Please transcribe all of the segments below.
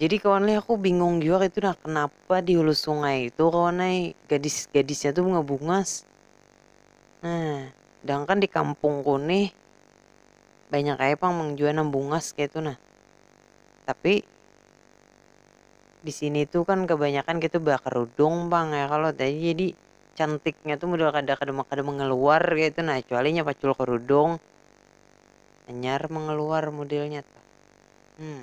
Jadi kawan lih aku bingung jua kaitu nah kenapa di hulu sungai itu kawan ai gadis-gadisnya tu bunga bungas. Nah, sedangkan di kampungku nih banyak ai pang mang jua nang bungas kaitu nah. Tapi di sini tu kan kebanyakan kaitu bakerudung pang ya kalo jadi cantiknya tu model kada kada kada mengeluar kaitu nah kecuali inya pacul kerudung hanyar mengeluar modelnya tuh. Hmm.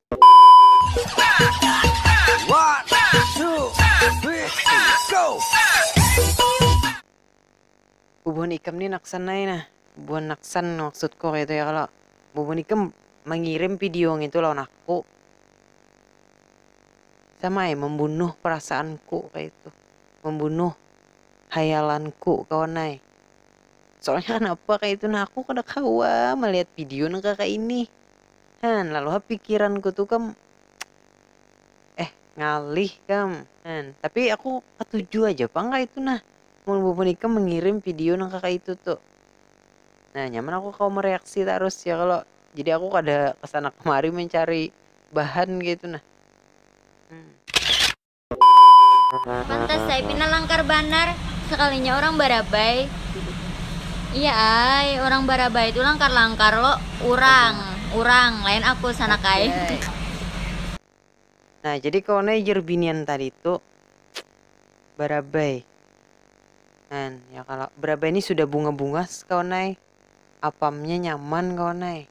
Bubuhan ikam ni naksan ai nah. Bubuhan naksan maksudku kaitu ya kalo. Bubuhan ikam mangirim video ngitu lawan aku. Sama ai mambunuh perasaanku kaitu. Mambunuh hayalanku kawan ai. Soalnya kanapa kaitu nah aku kada kawa malihat video nang kakaini. Han, lalu ha pikiranku tu kam eh ngalih kam Han, tapi aku katuju aja pang kaitu nah mun bubuhan ikam mangirim video nang kakaitu tu. Nah nyaman aku kawa mareaksi tarus ya kalo, jadi aku kada kesana kemari mancari bahan kaitu nah. Pantas ai pina langkar banar sekalinya urang barabai. Iya ai, urang barabai tu langkar-langkar lo, urang, urang, lain aku sanak ai. Nah jadi kawan ai jar binian tadi tu barabai kan ya kalo, barabai ni sudah bunga-bungas kawan ai, apamnya nyaman kawan ai.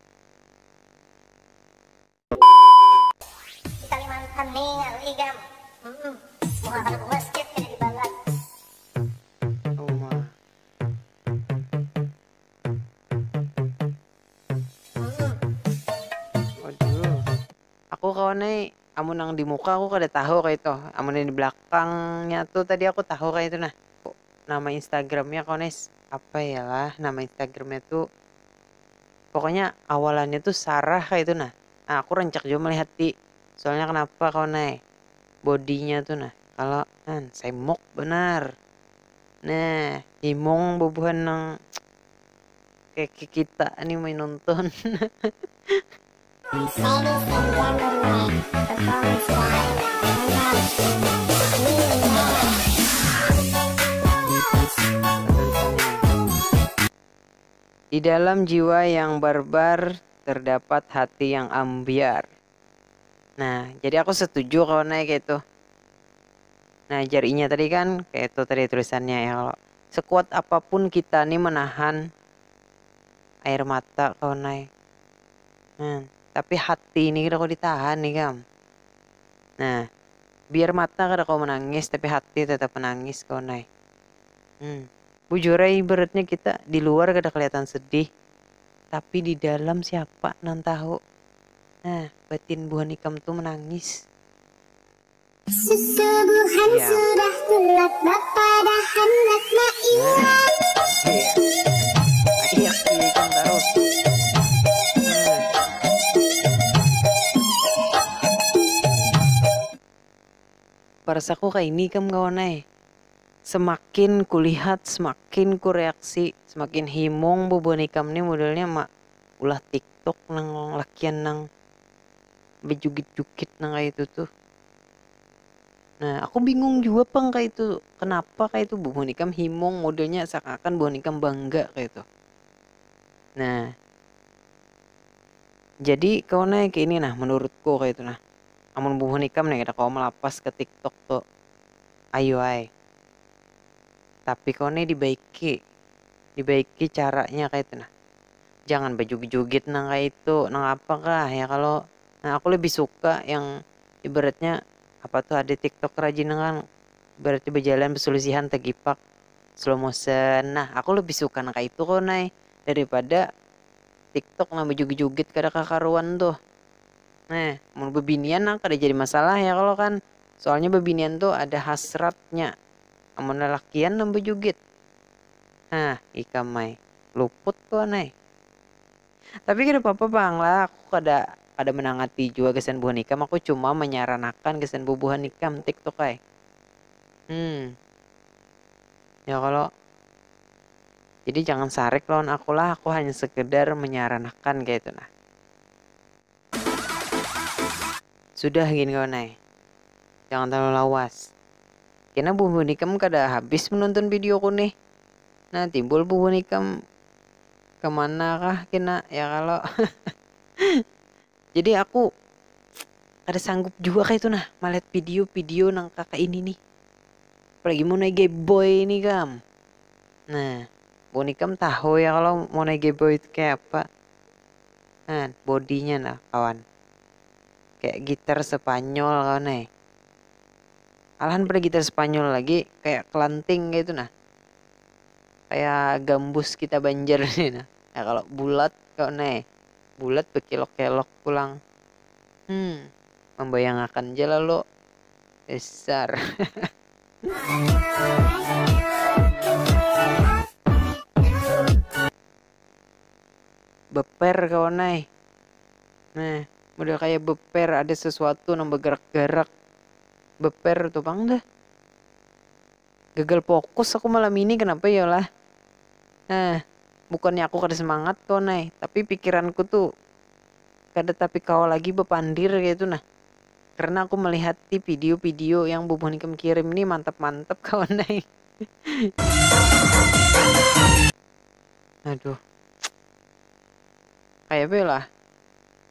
Aku kawan ai amun nang di muka aku kada tahu kaitu amun yang di belakangnya tu tadi aku tahu kaitu nah nama instagramnya kawan ai apa ya lah nama instagramnya tu Pokoknya awalannya tuh sarah kaya itu nah. Nah aku rancak jua melihat ti. Soalnya kenapa kawan ai. Bodinya tuh nah. Kalo an semok banar. Nah himung bubuhan nang kaya kita nih mai nonton. Di dalam jiwa yang barbar terdapat hati yang ambiar. Nah, jadi aku setuju kawan ai kaitu. Nah, jar inya tadi kan, kaitu tadi tulisannya ya kalo. Sekuat apapun kita ni menahan air mata kawan ai. Nah, tapi hati ni kada kawa ditahan ikam. Nah, biar mata kada kawa menangis tapi hati tetap menangis kawan ai. Hmm. Bujur ai ibaratnya kita di luar kada keliatan sedih, tapi di dalam siapa nang tahu. Nah, batin buhan ikam tu menangis. Susu buhan sudah tulak bapadahan lak maiyak. Parsaku kaini ikam kawan ai. semakin kulihat semakin ku reaksi semakin himung bubuhan ikam ni modelnya ma ulah tiktok nang lakian nang bejugit jugit nang kaya itu tuh nah aku bingung jua pang kaya itu kenapa kaya itu bubuhan ikam himung modelnya seakan akan bubuhan ikam bangga kaya itu nah jadi kawan ai kaya ini nah menurutku kaya itu nah amun bubuhan ikam nih kada kawa melapas ke tiktok tuh. Ayuai. Tapi kawa ni dibaiki. Dibaiki caranya kaytu nah. Jangan bajugit-jugit nang kaya itu. Nang apa kah, ya kalo? Nah aku lebih suka yang ibaratnya apa tuh ada tiktok kerajin nang kan ibaratnya bajalan besulisihan tegipak slow motion. Nah aku lebih suka nang kaya itu kawan ai. Daripada tiktok nang bajugit-jugit kada kakaruan tuh. Nah, mun bebinian nang kada jadi masalah ya kalo kan. Soalnya babinian tu ada hasratnya amun lalakian nang bajugit. Hah ikam ai, luput tu an ai. Tapi kada papa pang lah aku kada kada manangati jua gasan buhan ikam aku cuma manyaranakan gasan bubuhan ikam tik tok ai. Hum. Ya kalo. Jadi jangan sarik lawan aku lah aku hanya sekedar manyaranakan kaya itu nah. Sudah gin kawan ai, jangan terlalu lawas. Kena bubuhan ikam kada habis menonton video ku nih. Nah timbul bubuhan ikam kemana kah kena ya kalo. Jadi aku kada sanggup jua kaitu nah malihat video-video nang kaka ini nih. Apalagi monai gayboy ini kam. Nah, bubuhan ikam tahu ya kalo monai gayboy itu kaya apa. nah bodinya nah kawan kayak gitar Spanyol kawan eh alahan pada gitar Spanyol lagi kayak kelanting kayak itu nah kayak gambus kita Banjar ini nah ya kalau bulat kawan eh bulat bekilok-kelok pulang hmm membayangakan je lalu besar beper kawan ai nah model kaya beper ada sesuatu nang begerak-gerak beper tu pang dah gagal fokus aku malam ini kenapa yo lah nah bukannya aku kada semangat kawan ai tapi pikiranku tu kada tapi kawa lagi bepandir kaitu nah karena aku melihati video-video yang bubuhan ikam kirim ni mantap-mantap kawan ai. Aduh. Kayak apa ya lah?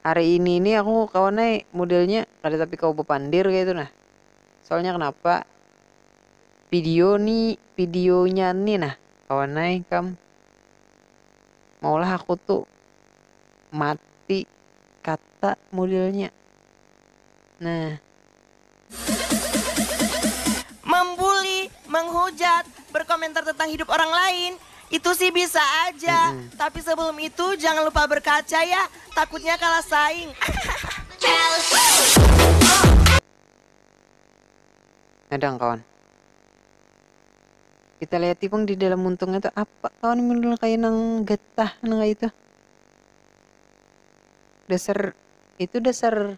Hari ini ini aku kawan naik modelnya kada tapi kau bepandir kayak itu nah. Soalnya kenapa? Video ni, videonya ni nah kawan naik kam. Maulah aku tuh mati kata modelnya. Nah, membuli menghujat berkomentar tentang hidup orang lain itu sih bisa aja tapi sebelum itu jangan lupa berkaca ya takutnya kalah saing Nadang kawan. Kita liati pang di dalam muntungnya tu apa kawan model kaya nang getah nang kaya itu. Dasar itu dasar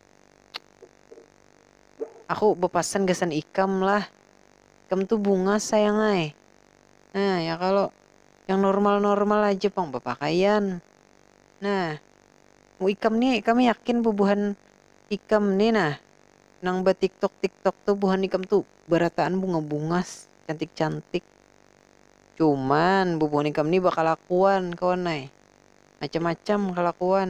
Aku bepasan gasan ikam lah. Ikam tu bunga sayang ai. Nah, ya kalo. Yang normal-normal aja pang bepakaian. Nah, mu ikam ni kami yakin bubuhan ikam ni nah nang ba tiktok-tiktok tu buhan ikam tu berataan bunga-bungas, cantik-cantik. Cuman bubuhan ikam ni bakalakuan kawan ai. Macam-macam kalakuan.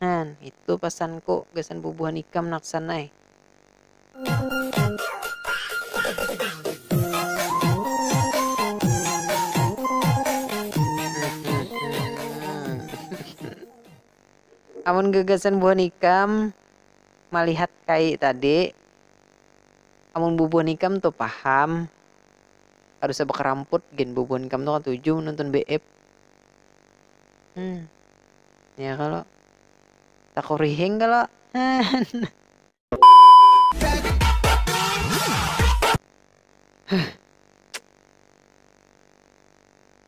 Nah, itu pasanku gasan bubuhan ikam naksan ai. Amun gagasan buhan ikam malihat kai tadi, amun bubuhan ikam tu paham, kada usah bakaramput gin bubuhan ikam tu katuju menonton BF. Hmm. ya kalau takurihing kalau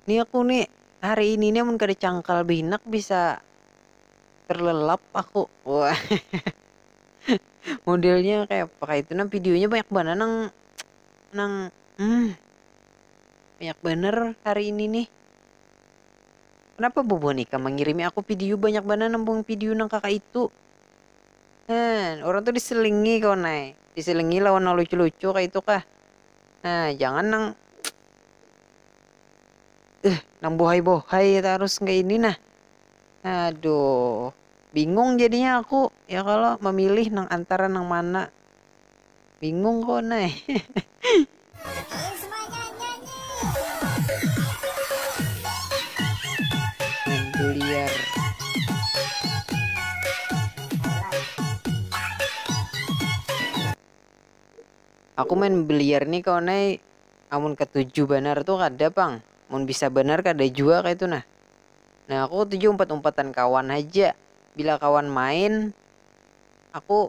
Ini aku nih hari ini nih mun kada cangkal binak bisa terlelap aku. Wah. Modelnya kayak apa kayak itu nah videonya banyak banget nang nang hmm, banyak bener hari ini nih. Kenapa bubuhan ikam mangirimi aku pidiu banyak banar nambung pidiu nang kaka itu. Heh, urang tu diselingi kawan ai. Diselingi lawan nang lucu-lucu kaya itu kah. Heh, jangan nang Heh, nang bohai-bohai tarus kaya ini nah. Aduh. Bingung jadinya aku, ya kalo, mamilih nang antara nang mana. Bingung ko nai. Aku main biliar nih kawan ai amun ketuju banar tuh kada pang mun bisa banar kada jua kaitu nah nah aku ketuju umpat-umpatan kawan haja bila kawan main aku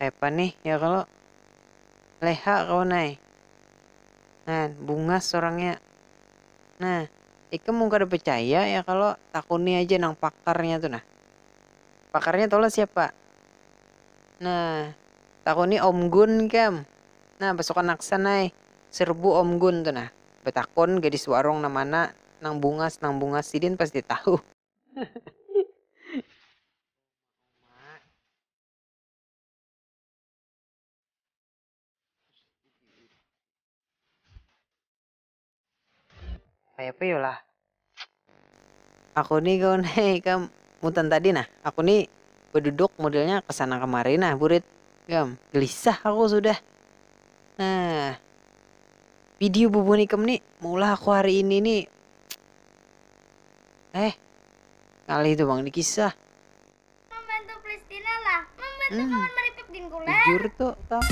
Kayapa nih ya kalo? Leha kawan ai. Nah, bungas orangnya. Nah, ikam mun kada percaya ya kalo, takuni aja nang pakarnya tu nah. Pakarnya tahulah siapa? Nah, takuni Om Gun ikam. Nah, pasukan Aksan ai. Serbu Om Gun tu nah. Betakun gadis warung nang mana nang bungas nang bungas sidin pasti tahu. Kayapa yu lah. Aku ni kawan ai ikam mutan tadi nah aku ni beduduk modelnya kesana kemari nah burit ikam gelisah aku sudah nah. Video bubun ikam ni maulah aku hari ini ni eh ngalih tu bang di kisah membantu Palestina lah membantu hmm. kawan meripik din kulen jujur tuh tang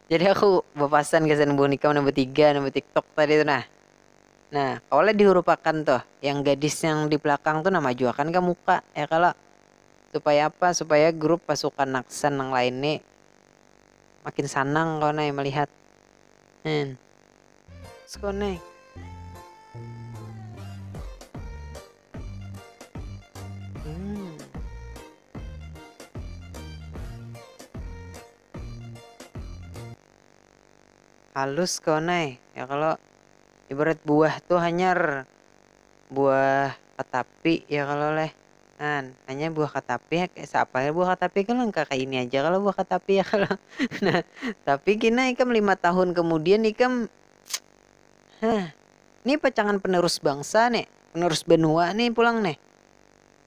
Jadi aku berpasan ke Senbun Ikam nambah tiga, nambah TikTok tadi tuh nah. Nah, kawalah dihurupakan tuh. Yang gadis yang di belakang tuh nah majuakan ka muka, ya kalo? Supaya apa? Supaya grup pasukan Naksan nang lain ni makin sanang kawan ai malihat. Hn. Disconnect. halus kawan ai ya kalo ibarat buah tu hanyar buah katapi ya kalo leh kan hanyar buah katapi kaya seapa leh buah katapi kan nang kaya ini aja kalo buah katapi ya kalo nah tapi kina ikam lima tahun kemudian ikam heh ni pacangan penerus bangsa ni penerus benua ni pulang nih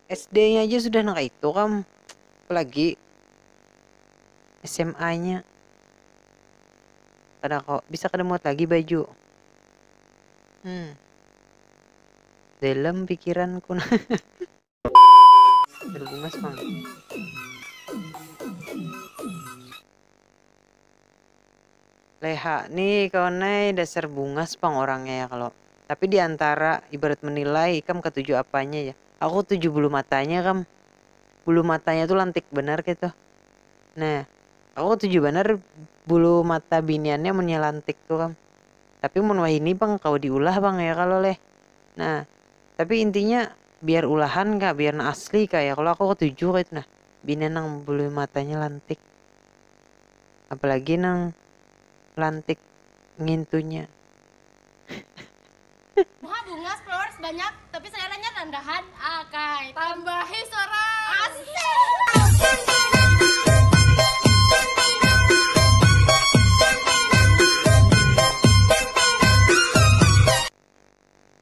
SD nya aja sudah nang kaya itu kam apalagi SMA nya. Kada ko, bisa kada muat lagi baju. Hmm. Dalam pikiranku nah. Berbungas mang. Leha nih kawan nih dasar bungas pang orangnya ya kalau. Tapi diantara ibarat menilai ikam ketujuh apanya ya. Aku tujuh bulu matanya kam. Bulu matanya tuh lantik benar gitu. Nah, Aku katuju banar bulu mata biniannya munnya lantik tu kam. Tapi mun wahini pang kawa diulah pang ya kalo leh. Nah, tapi intinya biar ulahan kah, biar nang asli kah ya kalo aku katuju kaya itu nah binian nang bulu matanya lantik. Apalagi nang lantik ngintunya. Bunga bungas, flowers banyak, tapi seleranya rendahan. Akai, tambahi sorang. Asik.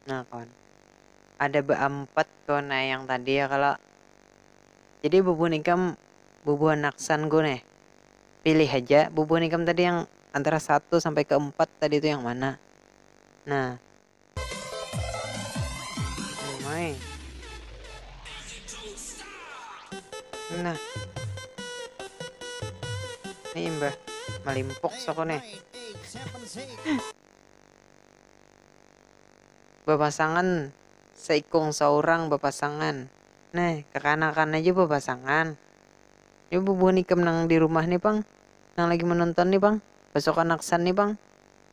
Nah kawan, ada beampat kawan nah yang tadi ya kalo. Jadi bubuhan ikam, bubuhan naksanku nih, pilih haja bubuhan ikam tadi yang antara satu sampai ke empat tadi tu yang mana. Nah. Main. Nah. Ini imbah malimpuk sokone. Bapasangan seikung saurang bapasangan. Nah, kekanakan aja bapasangan. Ini bubuhan ikam nang di rumah nih, Pang. Nang lagi menonton nih, Pang. Pasukan Aksan nih, Pang.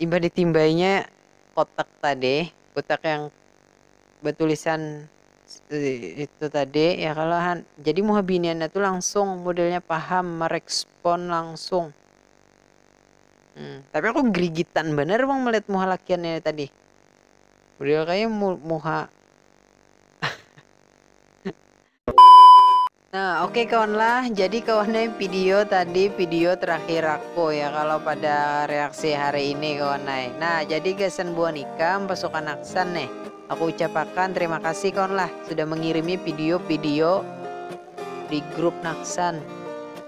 Imbah ditimbainya kotak tadi, kotak yang batulisan itu tadi ya kalo han, jadi muha biniannya tu langsung modelnya paham, marespon langsung. hmm, tapi aku gerigitan bener bang melihat muha lakiannya tadi beliau kayak mu muha Nah, oke okay, kawan lah. Jadi kawannya video tadi video terakhir aku ya kalau pada reaksi hari ini kawan naik. Nah, jadi gasan buah nikah pasukan aksan nih. Aku ucapakan terima kasih kawan lah sudah mengirimi video-video di grup Naksan.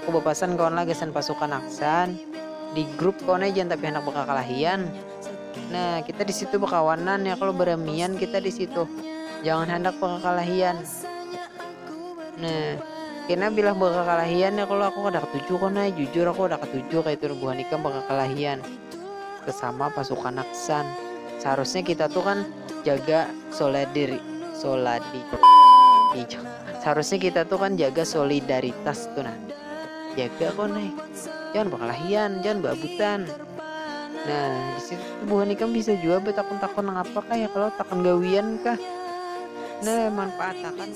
Aku bapasan kawan lah gasan pasukan aksan, di grup kawan ai jangan tapi handak bakakalahian. Nah kita di situ bakawanan ya kalo baramian kita di situ jangan handak bakakalahian. Nah kena bilah bakakalahian ya kalo aku kada katuju kawan ai jujur aku kada katuju kaitu buhan ikam bakakalahian. sesama pasukan Aksan seharusnya kita tuh kan jaga solidarity soladi seharusnya kita tuh kan jaga solidaritas tuh nah jaga kok nih jangan berkelahian jangan babutan nah di situ buhan ikam bisa juga bertakun-takun apa kah ya kalau takun gawian kah nah manfaatakan